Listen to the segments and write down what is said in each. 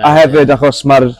A hefyd achos mae'r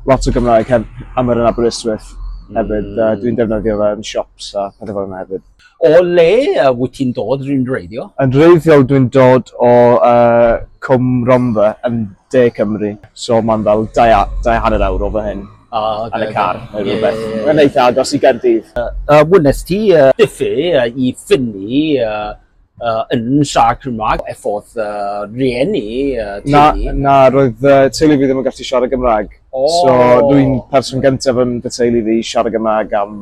lot o Gymraeg hef, am yr yn Aberystwyth hefyd. Mm. Uh, dwi'n defnyddio fe yn siops a pethau fel yna hefyd. O le uh, wyt ti'n dod rhywun reiddio? Yn reiddiol dwi'n dod o uh, Cwm Romfa yn de Cymru. So mae'n fel dau, dau hanner awr o fy hyn. Oh, okay, yn y car neu yeah, rhywbeth. Yeah, yeah. Mae'n eitha agos i Gaerdydd. Uh, uh, Wnes ti uh, diffu uh, i ffynnu uh, uh, yn siarad Cymraeg, effordd uh, rieni, uh, teulu? Na, na, roedd uh, teulu fi ddim yn gallu siarad Gymraeg. Oh. So, dwi'n person gyntaf yn fy teulu fi siarad Gymraeg am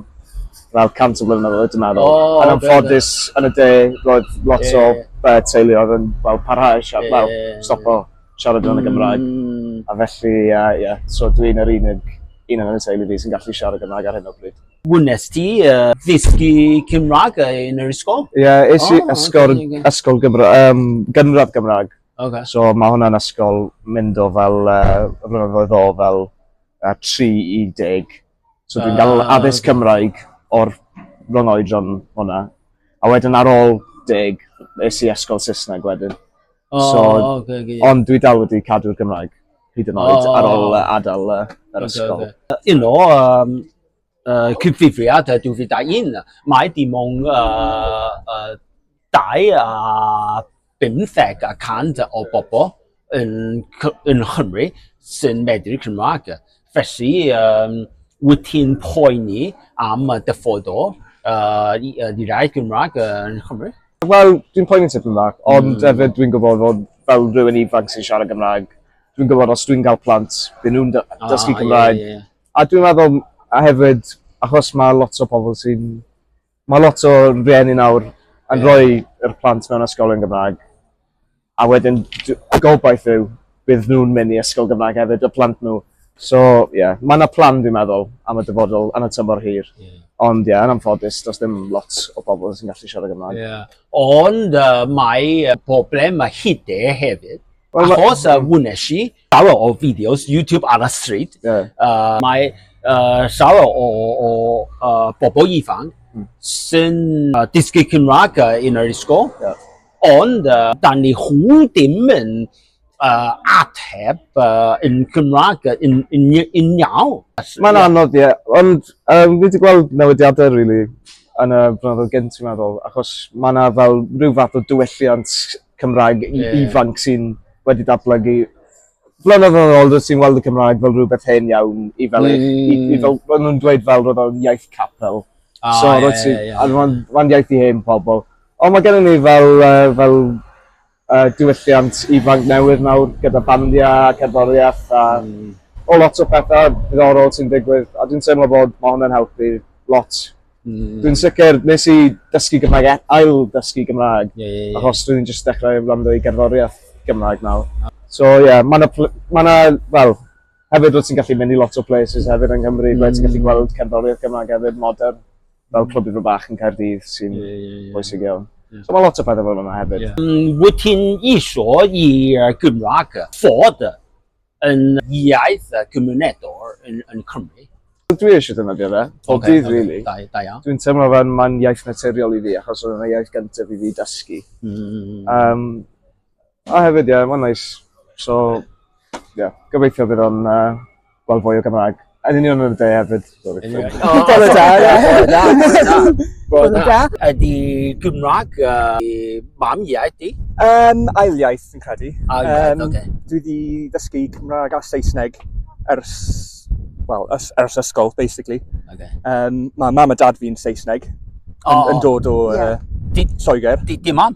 fel cant o flynyddoedd, oedd, dwi'n meddwl. Oh, yn amffodus, yn y de, roedd lot yeah. o uh, teulu oedd yn well, parhau siarad, yeah. well, stopo siarad yn y Gymraeg. Mm. A felly, uh, yeah, so dwi'n yr unig un yn y teulu fi sy'n gallu siarad Gymraeg ar hyn o bryd. Wnes ti uh, ddysgu Cymraeg yn yr ysgol? Ie, yeah, es i oh, ysgol, okay, okay. ysgol Gymra, um, gynradd Gymraeg. Okay. So mae hwnna'n ysgol mynd o fel, uh, flynyddoedd o fel uh, 3 i 10. So dwi'n gael uh, addysg okay. Cymraeg o'r rhwng oedron hwnna. A wedyn ar ôl 10, es i ysgol Saesneg wedyn. Oh, so, okay, okay. Ond dwi dal wedi cadw'r Gymraeg hyd yn oed oh. ar ôl uh, adael uh, yr okay, ysgol. Okay. You know, um, uh, cyfrifiad 2001, mae dim ond uh, uh, 25 a cant o bobl yn, yn Chymru sy'n medru Cymraeg. Felly, um, wyt ti'n poeni am y dyfodol uh, i, uh, i rai Cymraeg yn Chymru? Wel, dwi'n poeni tipyn Cymraeg, ond mm. hefyd dwi'n gwybod fod fel rhywun ifanc sy'n siarad Gymraeg, dwi'n gwybod os dwi'n cael plant, dyn nhw'n ah, dysgu ah, Cymraeg, yeah, yeah A dwi'n meddwl a hefyd achos mae lot o pobl sy'n... Mae lot o rhieni nawr yn yeah. rhoi yr plant mewn ysgol yn Gymraeg. A wedyn, y gobaith yw, bydd nhw'n mynd i ysgol Gymraeg hefyd, y plant nhw. So, ie, yeah, mae yna plan dwi'n meddwl am y dyfodol yn y tymor hir. Yeah. Ond ie, yeah, yn amffodus, does dim lot o bobl sy'n gallu siarad Gymraeg. Yeah. Ond uh, mae problem a hide hefyd. Well, Achos y uh, wnes i, Llawer o fideos YouTube ar y stryd. Yeah. Uh, mae uh, llawer o, o uh, bobl ifanc mm. sy'n uh, dysgu Cymraeg uh, yn yr ysgol. Yeah. Ond uh, da ni hwn ddim yn uh, ateb uh, yn Cymraeg yn, yn, yn iawn. Mae'n anodd, ie. Ond uh, fi wedi gweld newidiadau, really, yn y blynyddoedd gynt, i'n meddwl, achos mae yna fel rhyw fath o diwylliant Cymraeg yeah. ifanc sy'n wedi datblygu blynyddoedd old sy'n weld y Cymraeg fel rhywbeth hen iawn i fel, mm. i, i, i fel, maen nhw'n dweud fel roedd o'n iaith capel. Oh, so, yeah, yeah, yeah, yeah. Mae'n ma iaith i hen pobl. Ond mae gennym ni fel, uh, fel uh, diwylliant ifanc newydd nawr gyda bandiau, cerddoriaeth a mm. o lot o pethau diddorol sy'n digwydd. A dwi'n teimlo bod mae hwnna'n helpu lot Mm. Dwi'n sicr, nes i dysgu Gymraeg, e- ail dysgu Gymraeg, yeah, yeah, yeah. achos dwi'n just dechrau rando i gerddoriaeth Gymraeg nawr. So ie, yeah, mae yna, ma na, wel, hefyd wyt ti'n gallu mynd i lot o places hefyd yng Nghymru, mm. ti'n gallu mm. gweld cerddoriaeth Gymraeg hefyd, modern, fel clwb i'r bach yn Caerdydd sy'n yeah, yeah, yeah. bwysig iawn. Yeah. So mae lot o pethau fel yna hefyd. Yeah. Mm, wyt ti'n iso i Gymraeg fod yn iaith a gymunedol yn, yn Cymru. Dwi eisiau defnyddio fe, pob okay, dydd okay. really. Da, da iawn. Dwi'n teimlo fe mae'n iaith naturiol i fi, achos oedd yna iaith gyntaf i fi dysgu. Mm. Um, a hefyd, ie, yeah, mae'n nice. So, ie, yeah, gobeithio bydd o'n uh, gweld fwy o Gymraeg. Yn union yn y de hefyd. Bore da, ie. Bore da. Ydy Gymraeg i mam iaith di? Um, ail iaith yn credu. Ail iaith, um, okay. Dwi wedi ddysgu Cymraeg a Saesneg ers, well, ers, ers ysgol, basically. Okay. Um, mae mam a dad fi'n Saesneg, yn, oh. yn dod o yeah. uh, Lloegr. Di, di mam?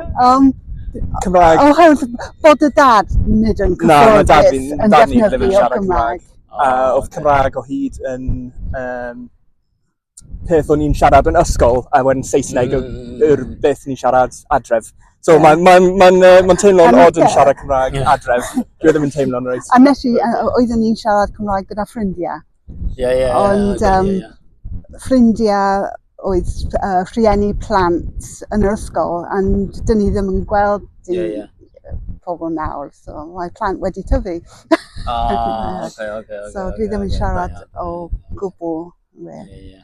Um, Cymraeg. Oherwydd bod y dad nid yn Na, mae dad cyfforddus fi'n, yn dad ni'n defnyddio lyfio siarad Cymraeg. A oedd Cymraeg o hyd yn um, peth o'n i'n siarad yn ysgol a wedyn Saesneg mm. yw'r beth ni'n siarad adref. So yeah. mae'n ma n, ma n, ma n teimlo'n odd yn siarad Cymraeg adref. Dwi e ddim yn teimlo'n reit. A nes i, uh, oeddwn ni'n siarad Cymraeg gyda ffrindiau. Ie, ie, Ond um, ie, ie. ffrindiau oedd uh, rhieni plant yn yr ysgol, a dyn ni ddim yn gweld dim yeah, yeah. pobl nawr, so mae plant wedi tyfu. Ah, okay, okay, okay, so dwi ddim yn siarad o gwbl. Yeah, yeah.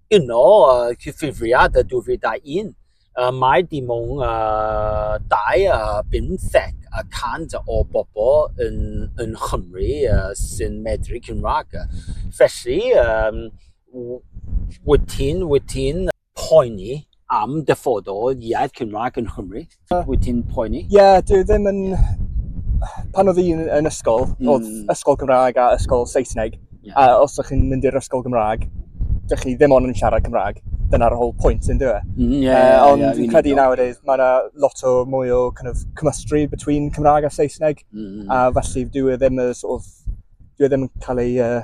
Yno, cyfrifiad 2001, mae dim ond 25 y cant o bobl yng Nghymru sy'n medru Cymraeg. Felly, wyt ti'n poeni? am dyfod o iaith Cymraeg yn Nghymru? Wyt ti'n poeni? Ie, yeah, dwi ddim yn... Pan oedd un yn ysgol, mm. oedd ysgol Gymraeg a ysgol Saesneg, yeah. a os ydych chi'n mynd i'r ysgol Gymraeg, dych chi ddim ond yn siarad Cymraeg. Dyna'r whole point yn dweud. E? Mm, yeah, uh, ond yeah, fi'n credu nowadays, mae yna lot o mwy o kind of, cymystry between Cymraeg a Saesneg, mm. a felly dwi e ddim yn sort of, dwi e ddim yn cael ei uh,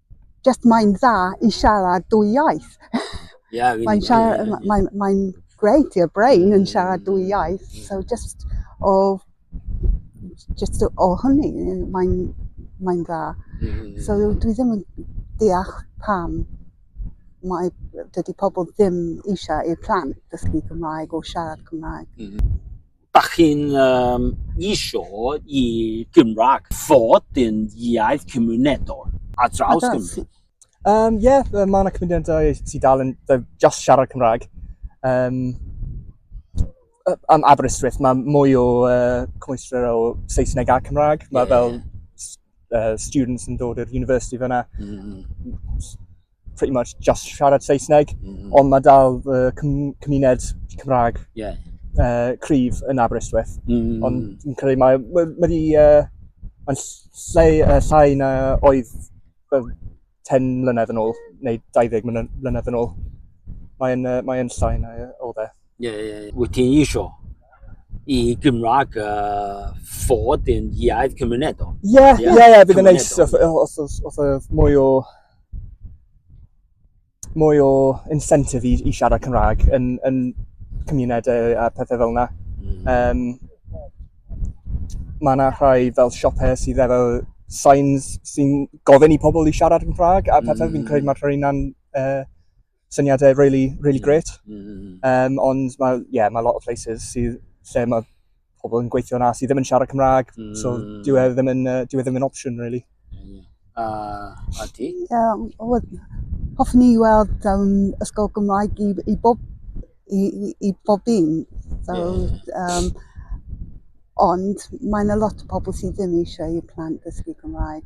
just mae'n dda i siarad dwy iaith. Yeah, really, mae'n siarad, really, really. mae'n mae great i'r brain yn siarad dwy iaith. Mm. So just o, just o hynny, mae'n mae dda. Mm. So dwi ddim yn deall pam mae dydy pobl ddim eisiau i'r plant ddysgu Cymraeg o siarad Cymraeg. Mm -hmm. Dach chi'n um, isio i Gymraeg fod yn iaith cymunedol a draws Cymru? Um, Ie, yeah, mae yna cymunedau sy'n dal yn just siarad Cymraeg. Um, am Aberystwyth, mae mwy o uh, cymwystra o Saesneg a Cymraeg. Mae yeah. fel uh, students yn dod i'r university fyna. Mm. pretty much just siarad Saesneg, mm. ond mae dal uh, cymuned Cymraeg yeah. uh, cryf yn Aberystwyth. Mm. Ond yn credu mae wedi... Uh, mae'n lle, uh, llai na oedd uh, 10 mlynedd yn ôl, neu 20 mlynedd yn ôl. Mae'n uh, mae llai na oedd e. Ie, yeah, ie. Wyt ti'n isio i Gymraeg uh, fod yn iaith cymunedol? Ie, ie, ie, bydd yn neis. Os oedd mwy o mwy o incentive i, i siarad Cymraeg yn, yn cymunedau a pethau fel yna. Mm. Um, mae yna rhai fel siopau sydd efo signs sy'n gofyn i pobl i siarad yn Cymraeg a pethau mm. fi'n credu mm. mae'r rhain yn uh, syniadau really, really great. Mm -hmm. um, ond mae, yeah, mae lot o places sydd lle mae pobl yn gweithio yna sydd ddim yn siarad Cymraeg, mm. so dwi e ddim yn, uh, dwi e ddim yn opsiwn, really. Yeah. Uh, a ti? Um, hoffwn i weld um, ysgol Gymraeg i, i bob i, i, i bob un. So, yeah. um, ond mae'n a lot o pobl sydd ddim eisiau i plant ddysgu Gymraeg.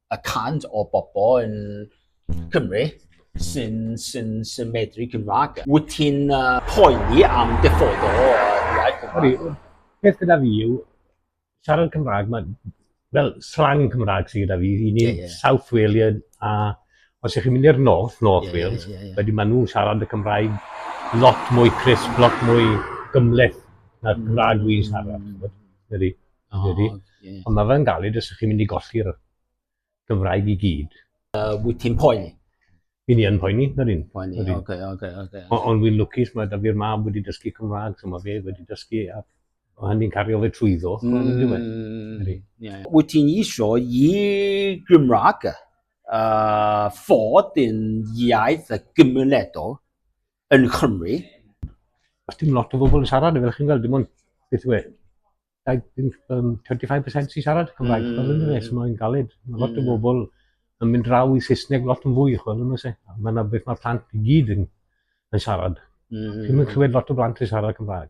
y cant o bobl yn Cymru sy'n sy sy medru Cymraeg. Wyt ti'n uh, poeni am diffodd o iaith Cymraeg? Peth gyda fi yw, siarad Cymraeg, mae fel slang Cymraeg sydd gyda fi, i ni yeah, yeah. South Walian a os ych chi'n mynd i'r North, North yeah, Wales, yeah, yeah, yeah. wedi maen nhw'n siarad y Cymraeg lot mwy crisp, lot mwy gymleth na'r mm. Cymraeg wy'n siarad. Mm. Oh, yeah. Ond mae fe'n galed os ydych chi'n mynd i golli'r Gymraeg i gyd. Uh, wyt ti'n poeni? Fi ni yn poeni, na dyn. Poeni, oce, oce, oce. Okay. Ond fi'n lwcus, mae da fi'r mab wedi dysgu Cymraeg, so mae fe wedi dysgu, a o hynny'n cario fe trwyddo. Mm, Wyt ti'n isio i Gymraeg uh, fod yn iaith y gymunedol yn Nghymru. Os dim lot o bobl yn siarad, fel chi'n gweld, dim ond beth yw e, 25% sy'n siarad Cymraeg, mm. fel ynddo fe, so mae'n galed. Mae lot mm. o bobl yn mynd draw i Saesneg lot yn fwy, chwel, yma se. Mae yna beth mae plant i gyd yn, yn siarad. Mm. Dwi'n mynd clywed lot o blant yn siarad Cymraeg.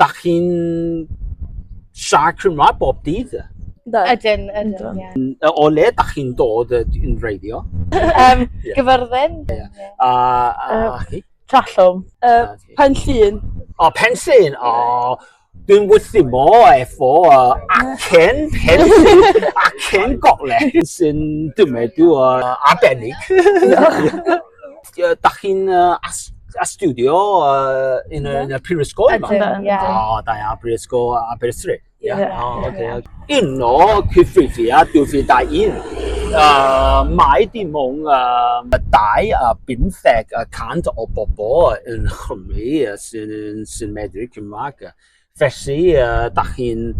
Da chi'n siarad Cymraeg bob dydd? Do. Ydyn, ydyn, ie. Yeah. O le da chi'n dod yn reiddio? um, yeah. Gyfyrddin. Yeah. Yeah. A, a, uh, a chi? Trallwm. Uh, pen llun. O, oh, pen llun. O, oh, dwi'n wythu mo efo uh, acen pen llun, acen golau sy'n dymedu uh, arbennig. Dach chi'n uh, as astudio uh, yn, y, yn y prifysgol yma? Ydyn, ie. O, da iawn, prifysgol Aberystwyth. Ie. Yeah. Yeah. Oh, okay. Yeah. Un o cyffrifiad 2001, uh, mae dim ond um, dau a bymtheg y cant o bobl yn Chymru sy'n sy medru Cymraeg. Felly, da chi'n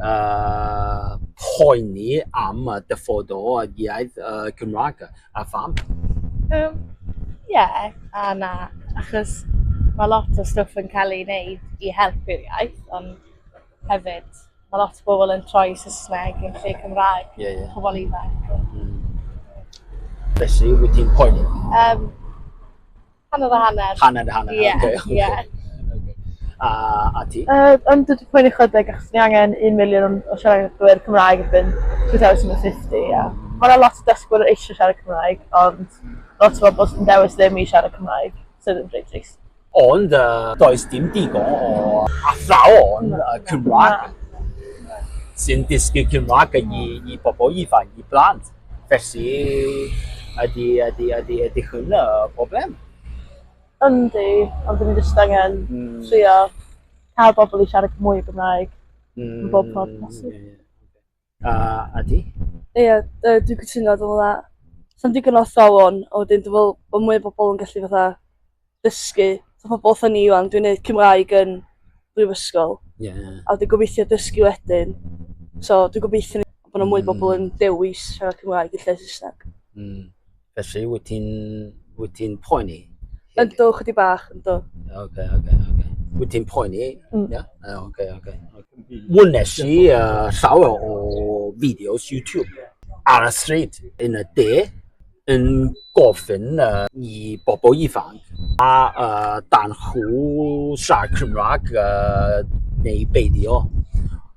uh, poeni am y dyfod o iaith uh, Cymraeg a pham? Um, yeah, a na, achos mae lot o stwff yn cael ei wneud i helpu'r iaith, ond hefyd mae lot o bobl yn troi Saesneg yn lle Cymraeg, yeah, yeah. pobl ifanc. Mm. Felly, wyt ti'n poeni? Um, Hanner a hanner. Hanner a hanner. Ie. Oce. Ie. Oce. A a ti? Yy yn dod i poeni chydig achos ni angen un miliwn o siaradwyr Cymraeg erbyn 2050 a ma' 'na lot o dysgwyr eisiau siarad Cymraeg ond lot o bobl sy'n dewis ddim i siarad Cymraeg sydd yn rhy trist. Ond uh, does dim digon o athrawon uh, Cymraeg sy'n dysgu Cymraeg i, i bobl ifanc, i blant. Felly, ydy, ydy, ydy, ydy hwn y broblem? Yndi, ond dyn ni jyst angen mm. trio cael bobl i siarad mwy o Gymraeg mm. yn bob ffordd hmm, posib. Yeah, yeah. Uh, a di? Ie, yeah, uh, dwi'n cytuno, dwi'n meddwl, sa'n digon o athrawon, a wedyn dwi'n meddwl bod mwy o bobl yn gallu fatha dysgu fatha pobl fatha ni ŵan, dwi'n neud Cymraeg yn brifysgol. Ie. A dwi'n gobeithio dysgu wedyn. So dwi'n gobeithio ni- bod 'na mwy o bobl yn dewis siarad Cymraeg yn lle Saesneg. Mm. Felly, wyt ti'n wyt ti'n poeni? Yndw, chydig bach, yndw. Oce, oce, oce. Wyt ti'n poeni? Ie? Yy, Oce, oce. Wnes i uh, llawer o fideos YouTube ar y stryd yn y de. yn gofyn uh, i bobl ifanc a uh, dan chw sa Cymraeg uh, neu beidio.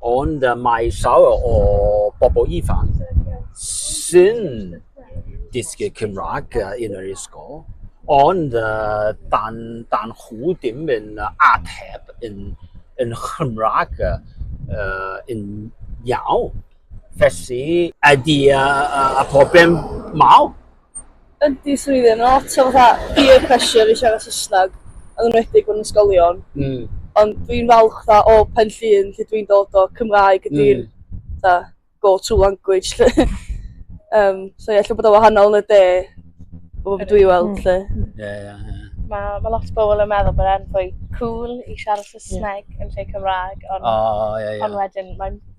Ond uh, mae llawer o bobl ifanc sy'n dysgu Cymraeg uh, yn yr ysgol, ond uh, dan, dan chw dim yn ateb yn, yn Chymraeg uh, yn iawn. Felly, ydy y, y, y problem mawr. Ydy swyddi, mae lot o fatha peer pressure i siarad Saesneg, yn enwedig mewn ysgolion. Mm. Ond dwi'n falch dda o pen llun lle dwi'n dod o Cymraeg ydy'r mm. go-to language. um, so ie, lle bod o wahanol yn y de, o beth dwi weld lle. Ie, ie, ie. Mae ma lot o bobl yn meddwl bod e'n fwy cool i siarad Saesneg yn lle Cymraeg, ond, oh, yeah, yeah. ond wedyn mae'n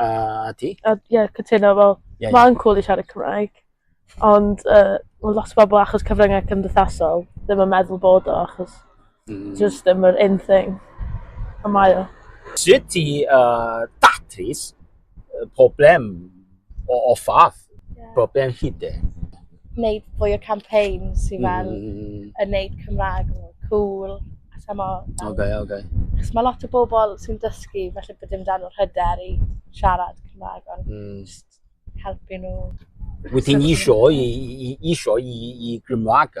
A ti? A, ie, cytuno, fel, yeah, mae'n yeah. cool i siarad Cymraeg, ond uh, well, lot o bobl achos cyfryngau cymdeithasol ddim yn meddwl bod o, achos mm. just ddim yr un thing. A mae o. Sut ti uh, datrys problem o, o fath? yeah. bob dim hyd e. Wneud fwy o campaigns i fel mm. mm. yn neud Cymraeg yn cool. A sa mo... Ok, ok. Chos mae lot o bobl sy'n dysgu, felly bod dim dan o'r hyder i siarad Cymraeg, ond mm. just helpu nhw. Wyt ti'n isio i, i, isio i, i Gymraeg?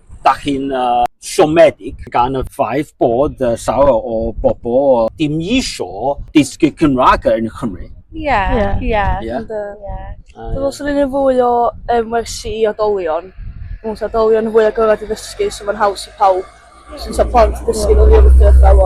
Da chi'n uh, siomedig gan y ffaith bod uh, llawer o bobl dim isio dysgu Cymraeg yn Cymru. Ie, yeah. ie. Yeah. Yeah. Dwi'n meddwl sy'n un fwy o um, wersi i odolion. Dwi'n meddwl odolion yn fwy agored i ddysgu, so mae'n haws i pawb. Sy'n sa plant dysgu nhw ddim yn dweud fel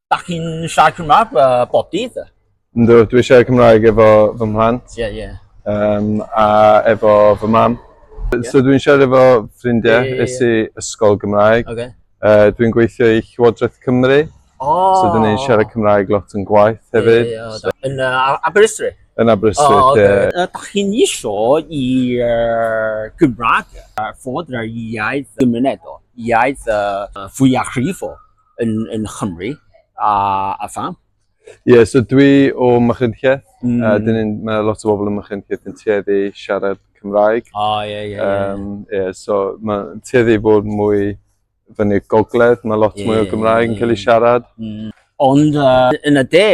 Da chi'n siarad Cymraeg, uh, bodydd? Ynddo, dwi siarad Cymraeg efo fy mhlant. Ie, yeah, ie. Yeah. Um, a efo fy mam. Yeah. So dwi'n siarad efo ffrindiau, yeah, yeah, yeah. i ysgol Gymraeg. Okay. Uh, dwi'n gweithio i Llywodraeth Cymru. Oh. So dwi'n ei siarad Cymraeg lot yn gwaith hefyd. Yeah, yeah, yeah. Yn uh, Aberystwyth? Yn Aberystwyth, oh, okay. yeah. Uh, da chi'n isio i uh, Gymraeg uh, fod yr iaith gymunedol, iaith uh, fwyaf rhifol? yn, yn Chymru a, a pha? Ie, yeah, so dwi o Machynlleth, mm. a dyn ni'n, mae lot o bobl yn Machynlleth yn tueddu siarad Cymraeg. O, oh, ie, ie, ie. so mae'n tueddu bod mwy fyny gogledd, mae lot yeah, mwy o Gymraeg yn cael ei siarad. Mm. Ond uh, yn y de,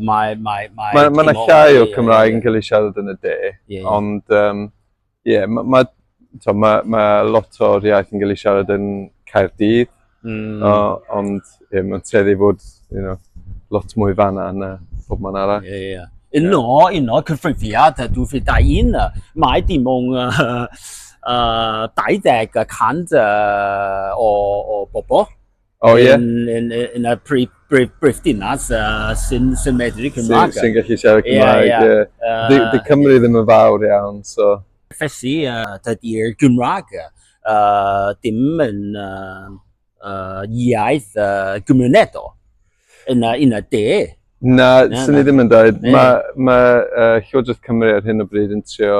mae... Mae, mae, mae, mae yna llai o Cymraeg yn cael ei siarad yn y de, yeah. ond um, Ie, yeah, mae ma, ma, ma, ma lot o'r iaith yn cael ei siarad yn Caerdydd, mm. o, ond ie, yeah, mae'n treddu bod you know, lot mwy fanna na pob man arall. Ie, yeah, ie. Yeah. Uno, yeah. uno, cyfrifiad, dwi fi da un, mae dim o'n uh, 20 y cant uh, o, o bobl Oh, ie? Yn, yn, yn y prif, prif, prif dinas uh, sy'n sy medru Cymraeg. Sy'n sy gallu siarad Cymraeg, ie. Yeah, yeah. yeah. Di, di Cymru ddim yn fawr iawn, so... Felly, uh, dydy'r Gymraeg uh, dim yn uh, uh, iaith uh, gymunedol yn y, yn y de. Na, na sy'n ni ddim yn dweud. Mae ma, uh, Llywodraeth Cymru ar hyn o bryd yn trio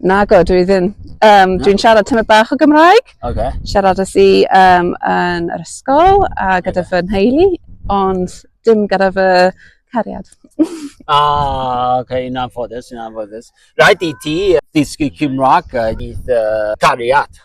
Nago, dwi ddim. Um, dwi'n siarad tymor bach o Gymraeg. Okay. Siarad ys i um, yn yr ysgol a gyda fy nheulu, ond dim gyda fy cariad. ah, ok, yn anffodus, yn anffodus. Rhaid i ti ddysgu Cymraeg i dy cariad.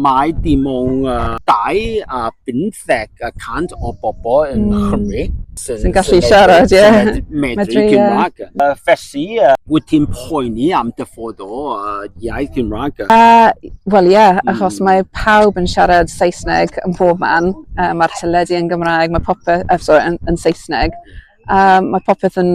Mae dim ond 25 y cant o bobl yng Nghymru sy'n gallu siarad, ie, medru Cymraeg. Felly, wyt ti'n poeni am dyfod o iaith Gymraeg? Wel ie, achos mae pawb yn siarad Saesneg yn bob man, mae'r teledu yn Gymraeg, mae popeth, sori, yn Saesneg, mae popeth yn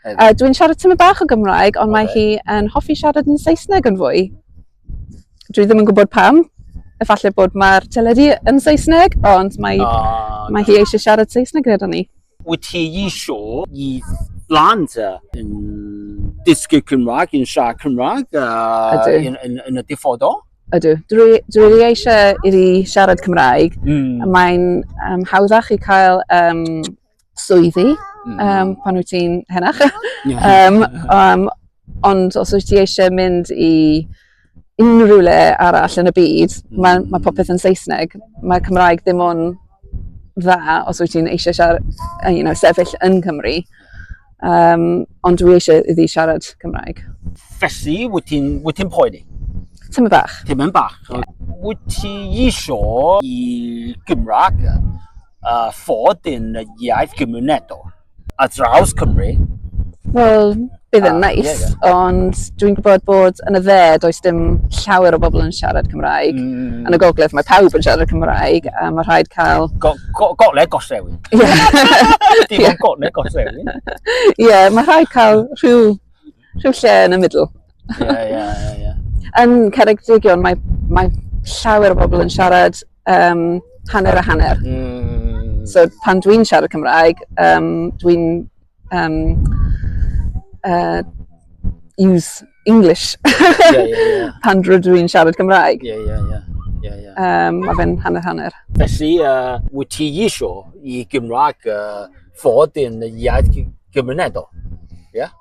Uh, Dwi'n siarad tymor bach o Gymraeg, ond okay. mae hi yn hoffi siarad yn Saesneg yn fwy. Dwi ddim yn gwybod pam. Efallai bod mae'r teledu yn Saesneg, ond mae, oh, mae hi eisiau siarad Saesneg gyda ni. Wyt ti eisiau i blant yn dysgu Cymraeg, yn siarad Cymraeg uh, yn, yn, yn y diffodol? Ydw. Dwi, dwi wedi eisiau i fi siarad Cymraeg. Mm. Mae'n um, hawddach i cael um, swyddi mm. um, pan wyt ti'n henach. um, um, ond os wyt ti eisiau mynd i unrhyw le arall yn y byd, mm. mae ma popeth yn Saesneg. Mae Cymraeg ddim o'n dda os wyt ti'n eisiau siarad, uh, you know, sefyll yn Cymru. Um, ond dwi eisiau iddi siarad Cymraeg. Felly, wyt ti'n ti poeni? Tym yn bach. Tym yn bach. Yeah. Wyt ti eisiau i Gymraeg a fod yn iaith gymunedol a draws Cymru. Wel, bydd yn nais, yeah, yeah. ond dwi'n gwybod bod yn y dde does dim llawer o bobl yn siarad Cymraeg. Mm. Yn y gogledd mae pawb yn siarad Cymraeg a mae rhaid cael... Go, go, gogledd gollewin. Ie. Dim ond gogledd gollewin. Ie, mae rhaid cael rhyw Rhyw lle yn y middle. Ie, ie, ie, ie. Yn Ceredigion mae, mae llawer o bobl yn siarad um, hanner a hanner. Mm. So pan dwi'n siarad Cymraeg, um, dwi'n um, uh, use English yeah, yeah, yeah. pan rydw i'n siarad Cymraeg. Yeah, yeah, yeah. Yeah, yeah. Um, mae fe'n hanner-hanner. Felly, uh, wyt ti isio i Gymraeg uh, fod yn iaith gymunedol? Yeah?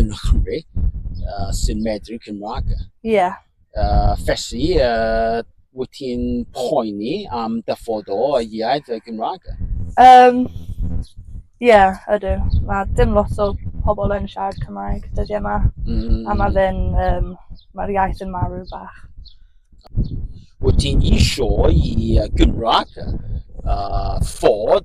yn Nghymru uh, sy'n medru Cymraeg. Ie. Yeah. Uh, felly, uh, wyt ti'n poeni am dyfod o y iaith y Gymraeg? Um, Ie, yeah, ydw. Mae dim lot o pobl yn siarad Cymraeg dyddi yma. Mm. A mae fe'n, um, mae'r iaith yn marw bach. Wyt ti'n eisiau i Gymraeg uh, ffod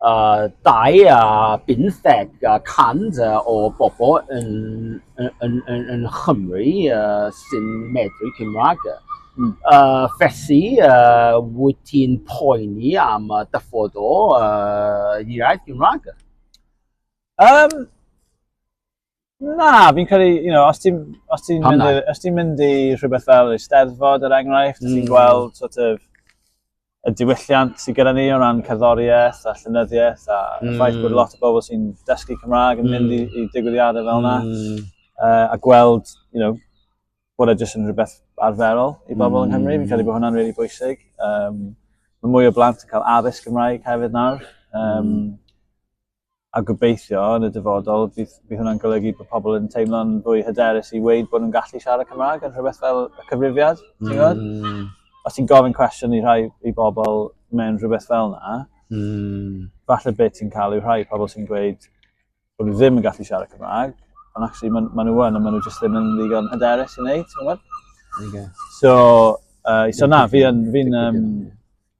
uh, dau a bymtheg uh, cant uh, o bobl yn, yn, yn, yn, yn Chymru uh, sy'n medru Cymraeg. Mm. Uh, felly, uh, wyt ti'n poeni am uh, dyffod o uh, iaith Gymraeg? Um, Na, fi'n credu, you know, os ti'n ti mynd, i, os ti mynd i rhywbeth fel y steddfod, er enghraifft, mm. ti'n gweld sort of, y diwylliant sydd gyda ni o ran cerddoriaeth a llynyddiaeth a mm. ffaith bod lot o bobl sy'n dysgu Cymraeg yn mynd i, mm. i digwyddiadau fel yna mm. uh, a gweld, you know, bod e jyst yn rhywbeth arferol i bobl mm. yng Nghymru. Fi'n credu bod hwnna'n rili really bwysig. Um, mae mwy o blant yn cael addysg Gymraeg hefyd nawr. Um, mm. a gobeithio yn y dyfodol bydd, bydd hwnna'n golygu bod pobl yn teimlo'n fwy hyderus i weid bod nhw'n gallu siarad Cymraeg yn rhywbeth fel y cyfrifiad, ti'n gwybod? Mm. Os ti'n gofyn cwestiwn i rhai i bobl mewn rhywbeth fel yna, mm. falle beth ti'n cael yw rhai pobl sy'n gweud bod nhw ddim yn gallu siarad Cymraeg, ond actually maen ma nhw yn, ond maen nhw jyst ddim yn ddigon hyderus i wneud, ti'n gwybod? Okay. So, uh, so na, fi'n fi um,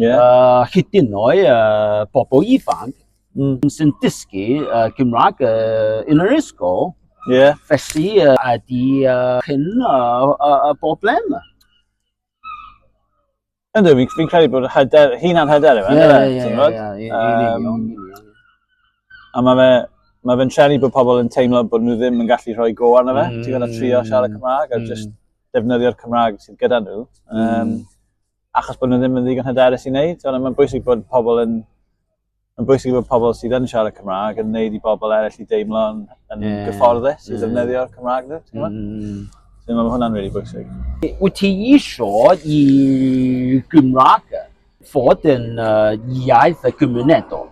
Yeah. Uh, hyd yn oed uh, bobl ifanc mm. sy'n dysgu uh, Gymraeg uh, yn yr ysgol. Yeah. Felly uh, ydy uh, hyn y uh, uh, broblem. Ynddo, fi'n fi credu bod hyder, hunan hyder yma. Ie, ie, ie. A mae fe, mae fe'n trenu bod pobl yn teimlo bod nhw ddim yn gallu rhoi go arno fe. Mm. Ti'n gwneud trio siarad mm. Cymraeg a mm. just defnyddio'r Cymraeg sydd gyda nhw. Um, mm. achos bod nhw ddim yn ddigon hyderus i wneud. Ond mae'n bwysig bod pobl yn mae'n bwysig bod pobl sydd yn siarad Cymraeg yn wneud i bobl eraill i deimlo yn, yn yeah. gyfforddus i mm. ddefnyddio'r Cymraeg nhw. Ti'n mm. So, mae hwnna'n really bwysig. Wyt ti eisiau i Gymraeg fod yn uh, iaith y gymunedol?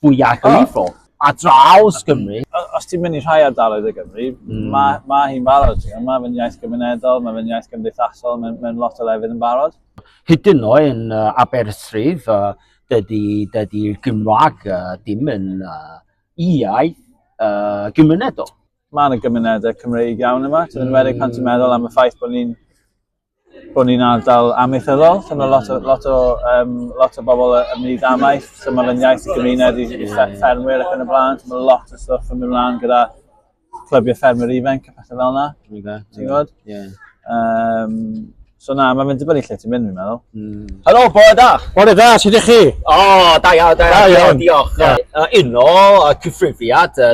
fwyaf o lifo a draws Gymru. Os ti'n mynd i rhai ardaloedd o Gymru, mm. mae ma hi'n barod. Mae fe'n iaith gymunedol, mae fe'n iaith gymdeithasol, mae'n mae lot o lefydd yn barod. Hyd yn oed yn uh, Aberystwyth, uh, dydy, dydy Gymraeg uh, dim yn uh, iaith uh, gymunedol. Mae yna gymunedau Cymreig iawn yma, ti'n mm. wedi pan ti'n meddwl am y ffaith bod ni'n bod ni'n ardal amaethyddol, so mae lot o, lot o, um, lot o bobl yn mynd i ddamaeth, so mae'n fe'n iaith y gymuned i, i ffermwyr ac yn y blaen, so mae lot o stwff yn mynd mlaen gyda clybiau ffermwyr ifanc a pethau fel yna, ti'n gwybod? Ie. Um, so na, mae'n mynd i dibynnu lle ti'n mynd, fi'n meddwl. Mm. Helo, bore da! Bore da, sut ydych chi? O, oh, da iawn, da iawn, diolch. Yeah. Uh, uno, uh, cyffrifiad, uh,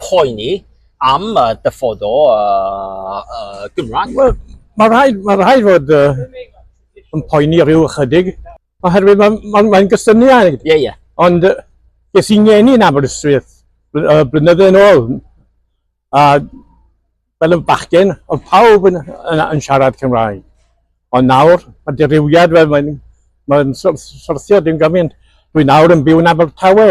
poeni am y dyfod o uh, Gymraeg? Wel, mae rhaid, mae rhaid fod uh, yn poeni rhyw ychydig, oherwydd mae'n ma, ma, ma gysyniad. Ie, yeah, ie. Yeah. Ond uh, ges i'n ngeni yn Aberystwyth uh, blynydde yn ôl, a Fel yn bachgen, oedd pawb yn, yn, yn siarad Cymraeg. Ond nawr, mae dirywiad, fel mae'n mae syrthio dim gymaint. Dwi nawr yn byw yn Abertawe.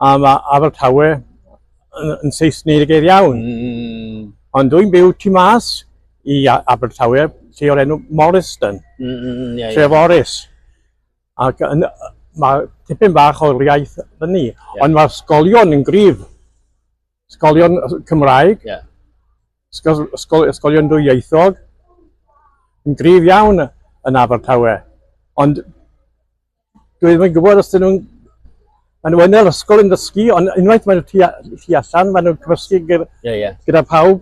A mae Abertawe yn, yn Saesnig iawn. Mm. Ond dwi'n byw tu mas i Abertawe, lle o'r enw Morriston, mm, mm, mm yeah, tref yeah. Oris. Ac yn, mae tipyn bach o'r iaith fyny, yeah. ond mae'r sgolion yn grif. Ysgolion Cymraeg, yeah. ysgol, ysgol, ysgolion dwyieithog, yn gryf iawn yn Abertawe. Ond dwi ddim yn gwybod os dyn nhw'n... Maen nhw yn yr ysgol yn dysgu, ond unwaith maen nhw tu allan, maen nhw'n cymysgu gyda, yeah, yeah. gyda pawb.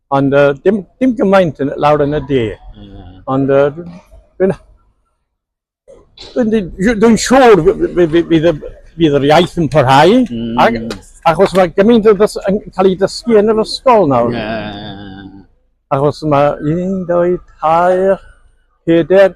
Ond uh, dim, dim gymaint yn, lawr yn y de. Mm. Ond uh, dwi'n... Dwi'n siŵr fydd yr iaith yn parhau, mm. ac, achos mae gymaint yn cael ei dysgu yn yr ysgol nawr. Yeah. Achos mae un, dwy, tair, peder,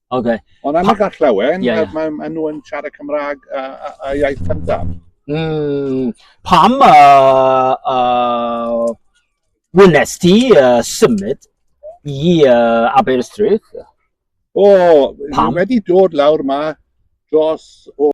Okay. Ond am y gallewen, yeah, yeah. maen ma nhw yn siarad Cymraeg a, a, a iaith cyntaf. Mm, pam uh, uh, wnes ti uh, symud i uh, Aberystwyth? O, oh, pam? wedi dod lawr ma dros o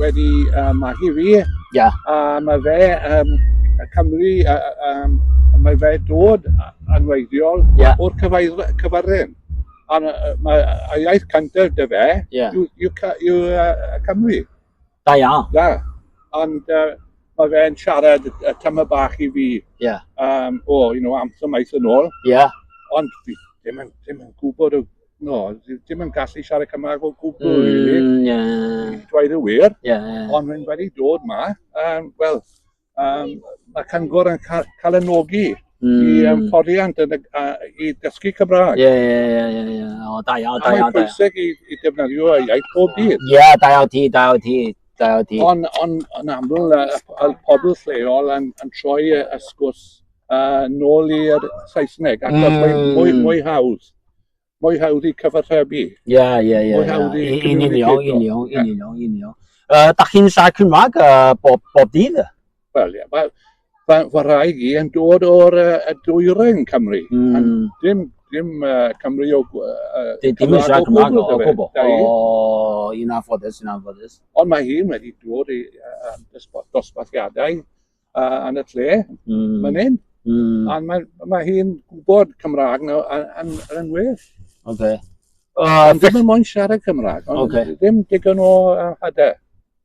wedi uh, magu fi. Yeah. A mae fe, um, y Cymru, uh, um, mae fe dod yn weithiol yeah. o'r cyfarren. A mae y iaith cyntaf dy fe, yeah. yw, yw, yw uh, Cymru. Da iawn. Da. Ond uh, mae fe'n siarad y tyma bach i fi yeah. um, o, you know, amser maith yn ôl. Yeah. Ond fi ddim yn, ddim yn gwybod o no, ddim yn gallu siarad Cymraeg o gwbl, mm, really. Yeah. Dweud y wir. Yeah, yeah. Ond rwy'n wedi dod ma, um, wel, um, mae Cyngor yn cael, cael y nogi mm. i um, fforiant yn, uh, i dysgu Cymraeg. Ie, ie, ie, ie, ie. O, da iawn, da iawn. Mae'n pwysig i, i defnyddio y iaith pob dydd. Ie, yeah, da iawn ti, da iawn ti. Ond on, on aml, y, y pobl lleol yn, yn troi y, y sgwrs A nôl i'r Saesneg, ac mm. mae'n mwy, hmm. mwy hawdd. Mwy hawdd i cyfarchebu. Ie, ie, ie. Mwy hawdd i Yn union, yn union, yn union, yn union. Da chi'n siarad Cymraeg bob, bob dydd? Wel, ie. Wel, fy wraig i yn dod o'r uh, dwyren Cymru. Mm. Dim, dim uh, Cymru o... Uh, dim yn siarad Cymraeg o gwbl. O, un anffodus, un anffodus. Ond mae hi'n wedi dod i uh, dosbarthiadau uh, yn y lle, mm. fan hyn. Mm. A mae, mae hi'n gwybod Cymraeg no, yn, yn, yn well. Okay. Uh, ond ddim yn mwyn siarad Cymraeg, ond okay. ddim digon o uh, hyder.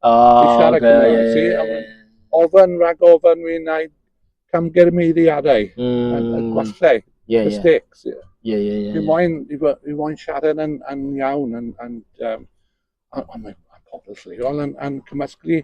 Oh, I siarad okay, Cymraeg. Yeah, yeah, yeah. Ofyn rhag ofyn fi'n gwneud camgyrmeiddiadau, mm. y, y gwallau, yeah, y yeah. sticks. Yeah. Yeah, yeah, yeah. Fi moyn, fi moyn siarad yn, yn iawn, yn, yn, um, ond mae pobl lleol yn, yn cymysglu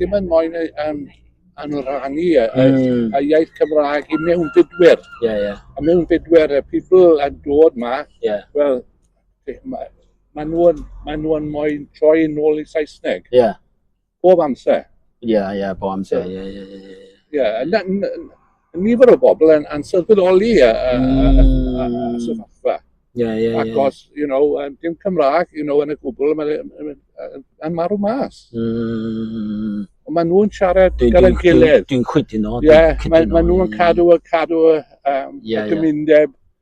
Dim ond moyn yy yym anoranu y y... Hmm. ...y iaith Cymraeg i mewnfudwyr. Ie ie. Y mewnfudwyr y people yn dod 'ma... Ie. ...wel be' ma' ma' nw yn ma' nw yn moyn troi yn ôl i Saesneg. Ie. Bob amser. Ie ie bob amser ie ie ie ie ie. Ie a na- n- n- nifer o bobl yn ansylweddoli y, y, mm. sefyllfa. Yeah, yeah, Ac yeah. os, you know, um, dim Cymraeg, you know, yn y gwbl, yn marw mas. Mm. Ond maen nhw'n siarad gyda'r gilydd. Dwi'n chwydu no. Ie, maen nhw'n cadw y cadw y, um, yeah, y gymundeb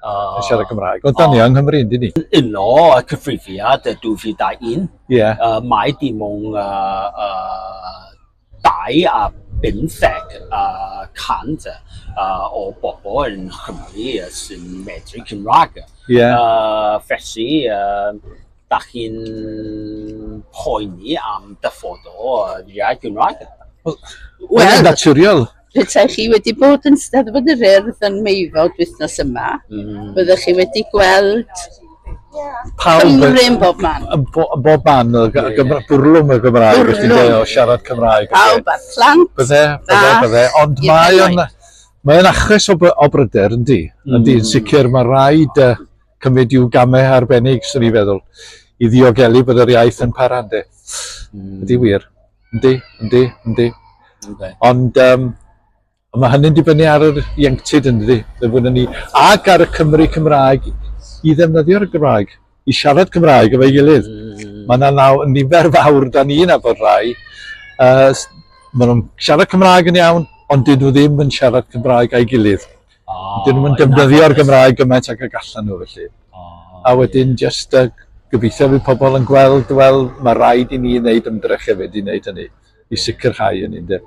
Oh. Yn siarad Cymraeg. Ond da ni oh. yng Nghymru, ynddi ni? Uno y cyfrifiad y 2001. Ie. Yeah. Uh, mae dim ond uh, uh, dau a bymtheg uh, cant uh, o bobl yn Chymru sy'n medru Cymraeg. Ie. Yeah. Uh, felly, uh, da chi'n poeni am dyfodol y iaith Gymraeg? Wel, well, naturiol. Petai chi wedi bod yn Steddfod yr Urdd yn Meifod wythnos yma, mm. byddech chi wedi gweld pawb Cymru yn bob man. Yn bo, bob man, y yeah, yeah. bwrlwm y Gymraeg, bwrlwm. ti'n dweud, o siarad Cymraeg. Pawb a'r plant. Bydde, bydde, bydde. Ond mae o'n, mae o'n achos o, o bryder, yndi. Mm. Yndi, yn sicr, mae rhaid uh, cymryd i'w gamau arbennig, sy'n ni feddwl, i ddiogelu bod yr iaith yn parande. Mm. Ydy wir. Yndi, yndi, yndi. Okay. Ond um, mae hynny'n dibynnu ar yr ieuenctid yn ddi, ddyfwn ni, ac ar y Cymru Cymraeg i ddefnyddio'r Gymraeg, i siarad Cymraeg efo'i gilydd. Mm. Mae yna naw nifer fawr da ni'n abod rai. Uh, maen nhw'n siarad Cymraeg yn iawn, ond dyn nhw ddim yn siarad Cymraeg a'i gilydd. Oh, Dyn nhw'n defnyddio'r Gymraeg gymaint ag y gallan nhw felly. Oh, a wedyn yeah. just uh, gobeithio bydd pobl yn gweld, wel, mae rhaid i ni wneud ymdrech hefyd i wneud hynny, i sicrhau hynny, ynde.